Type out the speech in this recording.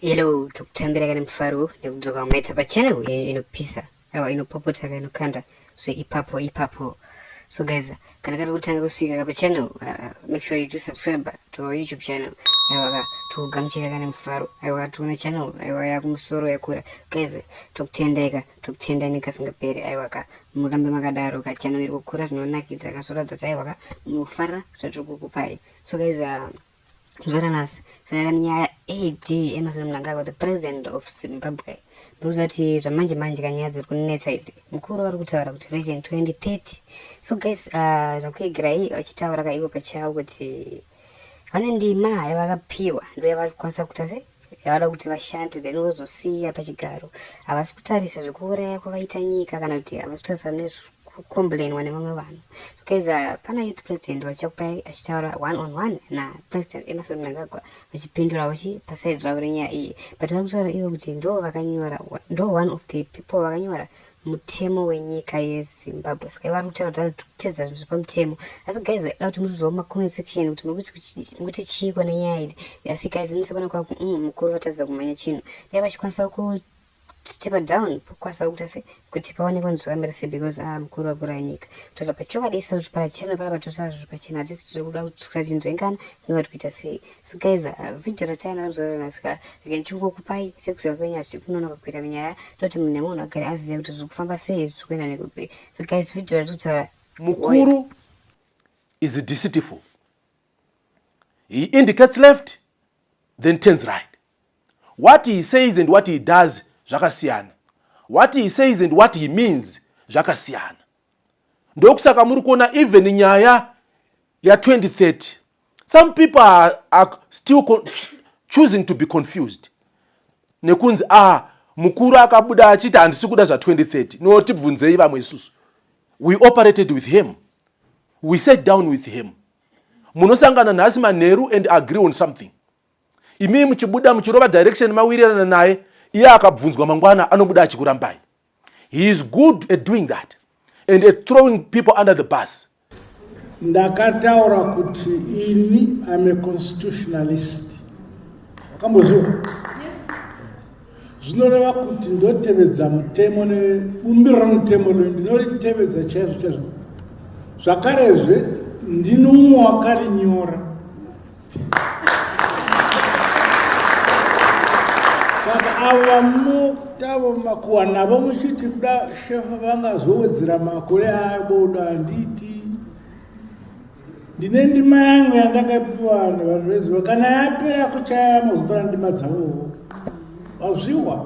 Hello, tokutambira kana mufaro nekudzoka maita pa channel yenyu inopisa awa inopopota kana inokanda so ipapo ipapo so guys kana kari kutanga kusvika kapa channel uh, make sure you do subscribe to our youtube channel aiwa ka tokugamuchira kana mufaro aiwa ka tiona channel aiwa yakumusoro yakura guys tokutendai ka tokutendai nekasingaperi aiwa ka murambe makadaro ka channel iri kukura zvinonakidza kasoradza taiwa ka munofarira zvatiri kukupai so guys uh, Zvara nhasi saka nyaya AD Emerson Mnangagwa the president of Zimbabwe ndokuziva kuti zvamanje manje kanyaya dziri kunetsa idzi mukuru vari kutaura kuti vision 2030 so guys uh, zvakuegerai vachitaura kaivo pachavo kuti vane ndima yavakapiwa ndoyavari kukwanisa kuita sei yavada kuti vashande then vozosiya pachigaro havasi kutarisa zvekuuraya kwavaita nyika kana kuti havasi kutarisa nezvekucomplainwa nevamwe vanhu so guys uh, pana youth president vachakupai achitaura one on one napresident emerson mnangagwa vachipindura vachi pasaidi ravo renyaya iyi but vari kutaura ivo kuti ndo vakanyora ndo one of the people vakanyora mutemo wenyika yezimbabwe saka ivari kutaura kuti kutedza zvinhu zvepamutemo asi guys aida kuti muzviziva mumacomment section kuti murikuti chii kwana nyaya iri asi guys inosekwana kwa mm, mukuru vatadza kumhanya chinhu dai vachikwanisa kustepa down pokwanisa kuita se kuti paonekwa nzvikamira se because a ah, mukuru vakura nyika toda pachokwadi iso kuti pachena paa patosa zviri pachena hatisi tiri kuda kutsukira chinhu zvaingana inga tikuita sei So guys, uh, video ratayana kuzorora nhasi ka rega ndichingokupai sekuziva kwenyu asi kunonoka kuita minyaya toti munhu nemunhu agari azive kuti zviri kufamba sei zviri kuenda nekupi so guys video ratotara mukuru is deceitful he indicates left then turns right what he says and what he does zvakasiyana what he says and what he means zvakasiyana ndokusaka muri kuona even nyaya ya2030 some people are, are still choosing to be confused nekunzi ah mukuru akabuda achiti handisi kuda zva2030 no tibvunzei vamwe isusu we operated with him we sat down with him munosangana nhasi manheru and agree on something imii muchibuda muchirova direction mawirirana naye iye akabvunzwa mangwana anobuda achikurambai He is good at doing that and at throwing people under the bus. Ndakataura kuti ini I'm a constitutionalist. Wakamboziwa? Zvinoreva kuti ndotevedza mutemo nebumbiro remutemo loyo ndinolitevedza chaizvo chaizvo. Zvakarezve ndino umwe wakarinyora. saka ava mutavo makuwa navo muchiti kuda shefa vangazowedzera makore ayo bodo handiti ndine ndima yangu yandakapiwa vanhu vanhu veziva kana yapera kuchaya mozotora ndima dzavowo wazviwa